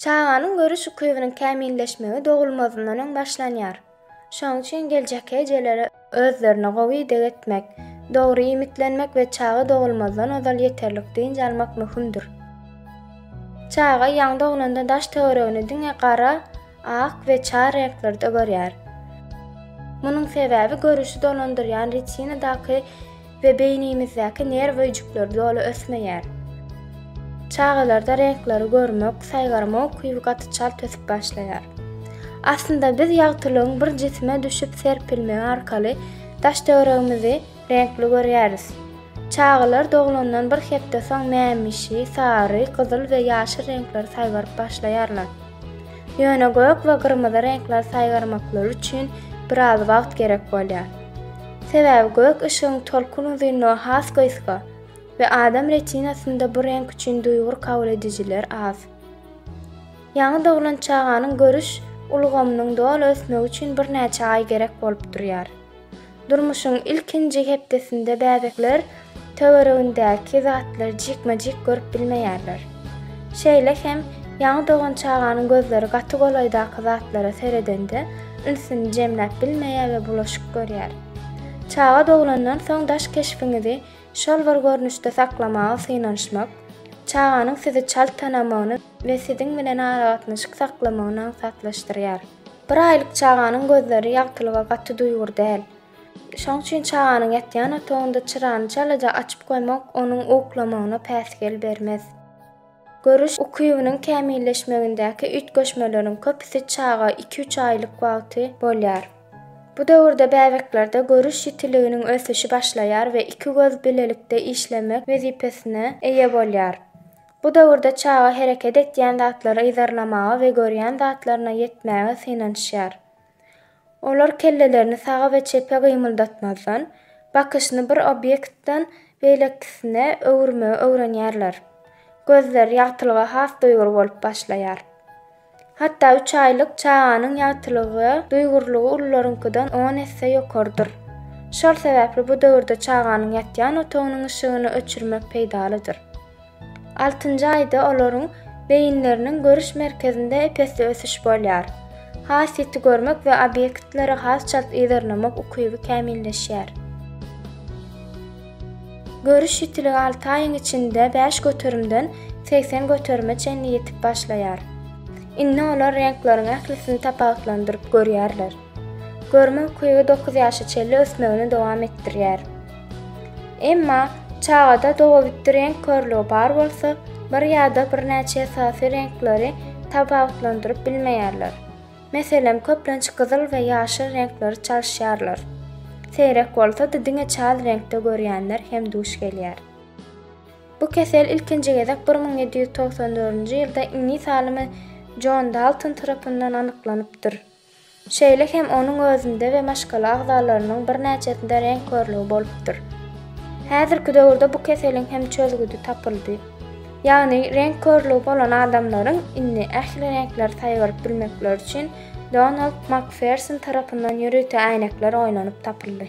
Çaganyň görüş ukybynyň kämilleşmegi dogulmazyndan öň başlanýar. Şonuň üçin geljekki ejelere özlerine gowy ideg etmek, dogry iýmitlenmek we çaga dogulmazdan ozal ýeterlik dynç almak möhümdir. Çaga ýaňy doglanda daş-töweregini diňe gara, ak we çar reňklerde görýär. Munuň sebäbi görüşi dolandyrýan retinadaky we beýnimizdäki nerw öýjükleri doly ösmeýär. Çagalarda reňkleri görmek, saýgarma ukyby gaty çalt ösüp başlaýar. Aslynda biz ýagtylygyň bir jisime düşüp serpilmegi arkaly daş-töweregimizi reňkli görýäris. Çagalar doglandan bir hepde soň mämişi, sary, gyzyl we ýaşyl reňkleri saýgaryp başlaýarlar. Ýöne gök we gyrmyzy reňkleri saýgarmaklary üçin biraz wagt gerek bolýar. Sebäbi gök yşygyň tolkun uzynlygy has gysga we adam retinasynda bu reňk üçin duýgur kabul edijiler az. Ýaňy doglan çaganyň görüş ulgamynyň doly ösmegi üçin birnäçe aý gerek bolup durýar. Durmuşyň ilkinji hepdesinde bäbekler töweregindäki zatlary jikme-jik görüp bilmeýärler. Şeýle hem ýaňy dogan çaganyň gözleri gaty golaýdaky zatlara seredende ünsüni jemläp bilmeýär we bulaşyk görýär. Çaga doglandan soň daş keşbiňizi şol bir görnüşde saklamaga synanyşmak, çaganyň sizi çalt tanamagyny we siziň bilen aragatnaşyk saklamagyny aňsatlaşdyrýar. Bir aýlyk çaganyň gözleri ýagtylyga gaty duýgur däl, Şoň üçin çaganyň ýatýan otagynda çyrany çalaja açyp goýmak onuň uklamagyna päsgel bermez. Görüş ukybynyň kämilleşmegindäki üýtgeşmeleriň köpüsi çaga iki-üç aýlyk wagty bolýar. Bu döwürde bäbeklerde görüş ýitiliginiň ösüşi başlaýar we iki göz bilelikde işlemek wezipesine eýe bolýar. Bu döwürde çaga hereket etýän zatlary yzarlamaga we görýän zatlaryna ýetmäge synanyşýar. Olar kellelerini saga we çepe gymyldatmazdan, bakyşyny bir obýektden beýlekisine öwürmegi öwrenýärler. Gözler, ýagtylyga has duýgur bolup başlaýar. Hatda üç aýlyk çaganyň ýagtylygy duýgurlygy ulularyňkydan on esse ýokarydyr. Şol sebäpli bu döwürde çaganyň ýatýan otagynyň yşygyny öçürmek peýdalydyr. Altynjy aýda olaryň beýinleriniň görüş merkezinde ep-esli ösüş bolýar. Has ýiti görmek we obýektlere has çalt yzarlamak ukyby kämilleşýär. Görüş ýitiligi alty aýyň içinde bäş göterimden segsen göterime çenli ýetip başlaýar. Indi olar reňkleriň ählisini tapawutlandyryp görýärler. Görme ukyby dokuz ýaşa çenli ösmegini dowam etdirýär. Emma çagada dogabitdi reňk körlügi bar bolsa, bir ýa-da birnäçe esasy reňkleri tapawutlandyryp bilmeýärler. Meselem, köplenç gyzyl we ýaşyl reňkleri çalyşýarlar. Seýrek bolsa-da diňe çal reňkde görýänler hem duş gelýär. Bu kesel ilkinji gezek bir müň ýedi ýüz togsan dördünji ýylda iňlis alymy Jon Dalton tarapyndan anyklanypdyr. Şeýle hem onuň özünde we maşgala agzalarynyň birnäçesinde reňk körlügi bolupdyr. Häzirki döwürde bu keseliň hem çözgüdi tapyldy. Ýagny reňk körlügi bolan adamlaryň indi ähli reňkleri saýgaryp bilmekleri üçin Donald Makferson tarapyndan ýörite äýnekler oýlanyp tapyldy.